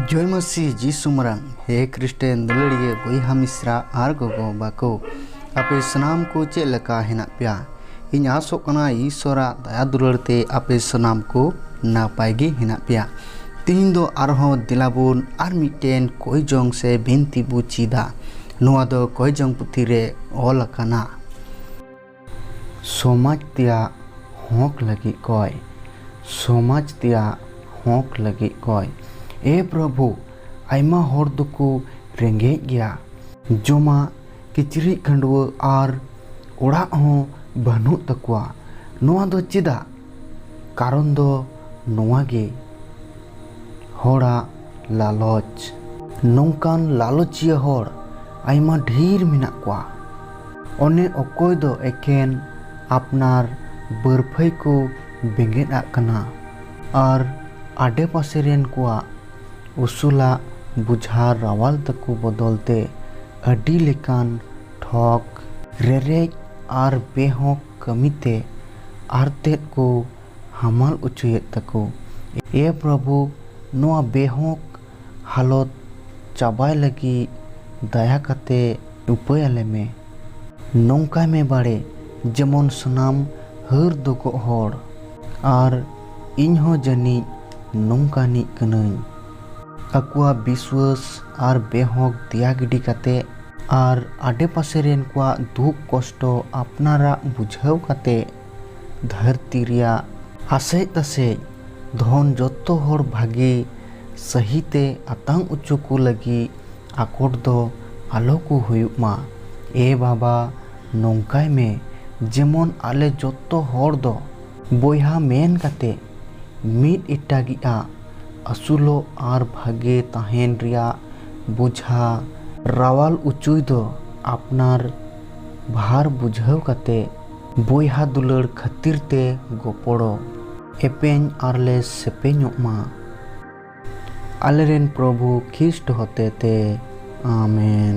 ᱡᱚᱭ ᱢᱟᱹᱥᱤ ᱡᱤᱥᱩ ᱢᱟᱨᱟᱝ ᱦᱮ ᱠᱨᱤᱥᱴᱮᱱ ᱫᱩᱞᱟᱹᱲᱤᱭᱟᱹ ᱵᱚᱭᱦᱟ ᱢᱤᱥᱨᱟ ᱟᱨ ᱜᱚᱜᱚ ᱵᱟᱠᱚ ᱟᱯᱮ ᱥᱟᱱᱟᱢ ᱠᱚ ᱪᱮᱫ ᱞᱮᱠᱟ ᱦᱮᱱᱟᱜ ᱯᱮᱭᱟ ᱤᱧ ᱟᱥᱚᱜ ᱠᱟᱱᱟ ᱤᱥᱚᱨᱟᱜ ᱫᱟᱭᱟ ᱫᱩᱞᱟᱹᱲ ᱛᱮ ᱟᱯᱮ ᱥᱟᱱᱟᱢ ᱠᱚ ᱱᱟᱯᱟᱭ ᱜᱮ ᱦᱮᱱᱟᱜ ᱯᱮᱭᱟ ᱛᱤᱦᱤᱧ ᱫᱚ ᱟᱨᱦᱚᱸ ᱫᱮᱞᱟᱵᱚᱱ ᱟᱨ ᱢᱤᱫᱴᱮᱱ ᱠᱚᱭᱡᱚᱝ ᱥᱮ ᱵᱤᱱᱛᱤ ᱵᱚ ᱪᱮᱫᱟ ᱱᱚᱣᱟ ᱫᱚ ᱠᱚᱭᱡᱚᱝ ᱯᱩᱛᱷᱤ ᱨᱮ ᱚᱞ ᱟᱠᱟᱱᱟ ᱥᱚᱢᱟᱡᱽ ᱛᱮᱭᱟᱜ ᱦᱚᱸᱠ ᱞᱟᱹᱜᱤᱫ ᱠᱚᱭ᱾ ᱥᱚᱢᱟᱡᱽ ᱛᱮᱭᱟᱜ ᱦᱚᱸᱠ ᱞᱟᱹᱜᱤᱫ ᱠᱚᱭ᱾ ᱮ ᱯᱨᱚᱵᱷᱩ ᱟᱭᱢᱟ ᱦᱚᱲ ᱫᱚᱠᱚ ᱨᱮᱸᱜᱮᱡ ᱜᱮᱭᱟ᱾ ᱡᱚᱢᱟᱜ, ᱠᱤᱪᱨᱤᱡ ᱠᱷᱟᱹᱰᱣᱟᱹᱜ ᱟᱨ ᱚᱲᱟᱜ ᱦᱚᱸ ᱵᱟᱹᱱᱩᱜ ᱛᱟᱠᱚᱣᱟ᱾ ᱱᱚᱣᱟ ᱫᱚ ᱪᱮᱫᱟᱜ? ᱠᱟᱨᱚᱱ ᱫᱚ ᱱᱚᱣᱟ ᱜᱮ ᱦᱚᱲᱟᱜ ᱞᱟᱞᱚᱪ᱾ ᱱᱚᱝᱠᱟᱱ ᱞᱟᱞᱚᱪᱤᱭᱟᱹ ᱦᱚᱲ ᱟᱭᱢᱟ ᱰᱷᱤᱨ ᱢᱮᱱᱟᱜ ᱠᱚᱣᱟ᱾ ᱚᱱᱮ ᱚᱠᱚᱭ ᱫᱚ ᱮᱠᱮᱱ ᱟᱯᱱᱟᱨ ᱵᱟᱹᱨᱯᱷᱟᱹᱭ ᱠᱚ ᱵᱮᱸᱜᱮᱫ ᱟᱜ ᱠᱟᱱᱟ ᱟᱨ ᱟᱰᱮ ᱯᱟᱥᱮ ᱨᱮᱱ ᱠᱚᱣᱟᱜ ᱩᱥᱩᱞᱟᱜ ᱵᱩᱡᱷᱟ ᱨᱟᱣᱟᱞ ᱛᱟᱠᱚ ᱵᱚᱫᱚᱞ ᱛᱮ ᱟᱹᱰᱤ ᱞᱮᱠᱟᱱ ᱴᱷᱚᱠ, ᱨᱮᱨᱮᱡ ᱟᱨ ᱵᱮᱦᱚᱸᱠ ᱠᱟᱹᱢᱤ ᱛᱮ ᱟᱨᱛᱮᱫ ᱠᱚ ᱦᱟᱢᱟᱞ ᱚᱪᱚᱭᱮᱫ ᱛᱟᱠᱚ᱾ ᱮ ᱯᱨᱚᱵᱷᱩ ᱱᱚᱣᱟ ᱵᱮᱦᱚᱸᱠ ᱦᱟᱞᱚᱛ ᱪᱟᱵᱟᱭ ᱞᱟᱹᱜᱤᱫ ᱫᱟᱭᱟ ᱠᱟᱛᱮ ᱩᱯᱟᱹᱭ ᱟᱞᱮ ᱢᱮ᱾ ᱱᱚᱝᱠᱟᱭ ᱢᱮ ᱵᱟᱲᱮ ᱡᱮᱢᱚᱱ ᱥᱟᱱᱟᱢ ᱦᱟᱹᱨ ᱫᱚᱜᱚᱜ ᱦᱚᱲ᱾ ᱟᱨ ᱤᱧ ᱦᱚᱸ ᱡᱟᱹᱱᱤᱡ ᱱᱚᱝᱠᱟᱱᱤᱡ ᱠᱟᱹᱱᱟᱹᱧ᱾ ᱟᱠᱚᱣᱟᱜ ᱵᱤᱥᱣᱟᱹᱥ ᱟᱨ ᱵᱮᱦᱚᱸᱠ ᱫᱮᱭᱟ ᱜᱤᱰᱤ ᱠᱟᱛᱮ ᱟᱨ ᱟᱰᱮᱯᱟᱥᱮ ᱨᱮᱱ ᱠᱚᱣᱟᱜ ᱫᱩᱠ ᱠᱚᱥᱴᱚ ᱟᱯᱱᱟᱨᱟᱜ ᱵᱩᱡᱷᱟᱹᱣ ᱠᱟᱛᱮ ᱫᱷᱟᱹᱨᱛᱤ ᱨᱮᱭᱟᱜ ᱟᱥᱮᱡ ᱛᱟᱥᱮᱡ ᱫᱷᱚᱱ ᱡᱚᱛᱚ ᱦᱚᱲ ᱵᱷᱟᱜᱮ ᱥᱟᱹᱦᱤ ᱛᱮ ᱟᱛᱟᱝ ᱚᱪᱚ ᱠᱚ ᱞᱟᱹᱜᱤᱫ ᱟᱠᱚᱴ ᱫᱚ ᱟᱞᱚ ᱠᱚ ᱦᱩᱭᱩᱜ ᱢᱟ᱾ ᱮ ᱵᱟᱵᱟ ᱱᱚᱝᱠᱟᱭ ᱢᱮ ᱡᱮᱢᱚᱱ ᱟᱞᱮ ᱡᱚᱛᱚ ᱦᱚᱲ ᱫᱚ᱾ ᱵᱚᱭᱦᱟ ᱢᱮᱱ ᱠᱟᱛᱮ ᱢᱤᱫ ᱮᱴᱟᱜᱤᱡ ᱟᱜ ᱟᱹᱥᱩᱞᱚᱜ ᱟᱨ ᱵᱷᱟᱜᱮ ᱛᱟᱦᱮᱸᱱ ᱨᱮᱭᱟᱜ ᱵᱚᱡᱷᱟ ᱨᱟᱣᱟᱞ ᱚᱪᱚᱭ ᱫᱚ ᱟᱯᱱᱟᱨ ᱵᱷᱟᱨ ᱵᱩᱡᱷᱟᱹᱣ ᱠᱟᱛᱮ ᱵᱚᱭᱦᱟ ᱫᱩᱞᱟᱹᱲ ᱠᱷᱟᱹᱛᱤᱨ ᱛᱮ ᱜᱚᱯᱚᱲᱚ ᱮᱯᱮᱧ ᱟᱨᱞᱮ ᱥᱮᱯᱮᱧᱚᱜ ᱢᱟ᱾ ᱟᱞᱮᱨᱮᱱ ᱯᱨᱚᱵᱷᱩ ᱠᱷᱤᱥᱴ ᱦᱚᱛᱮᱛᱮ ᱟᱢᱮᱱ᱾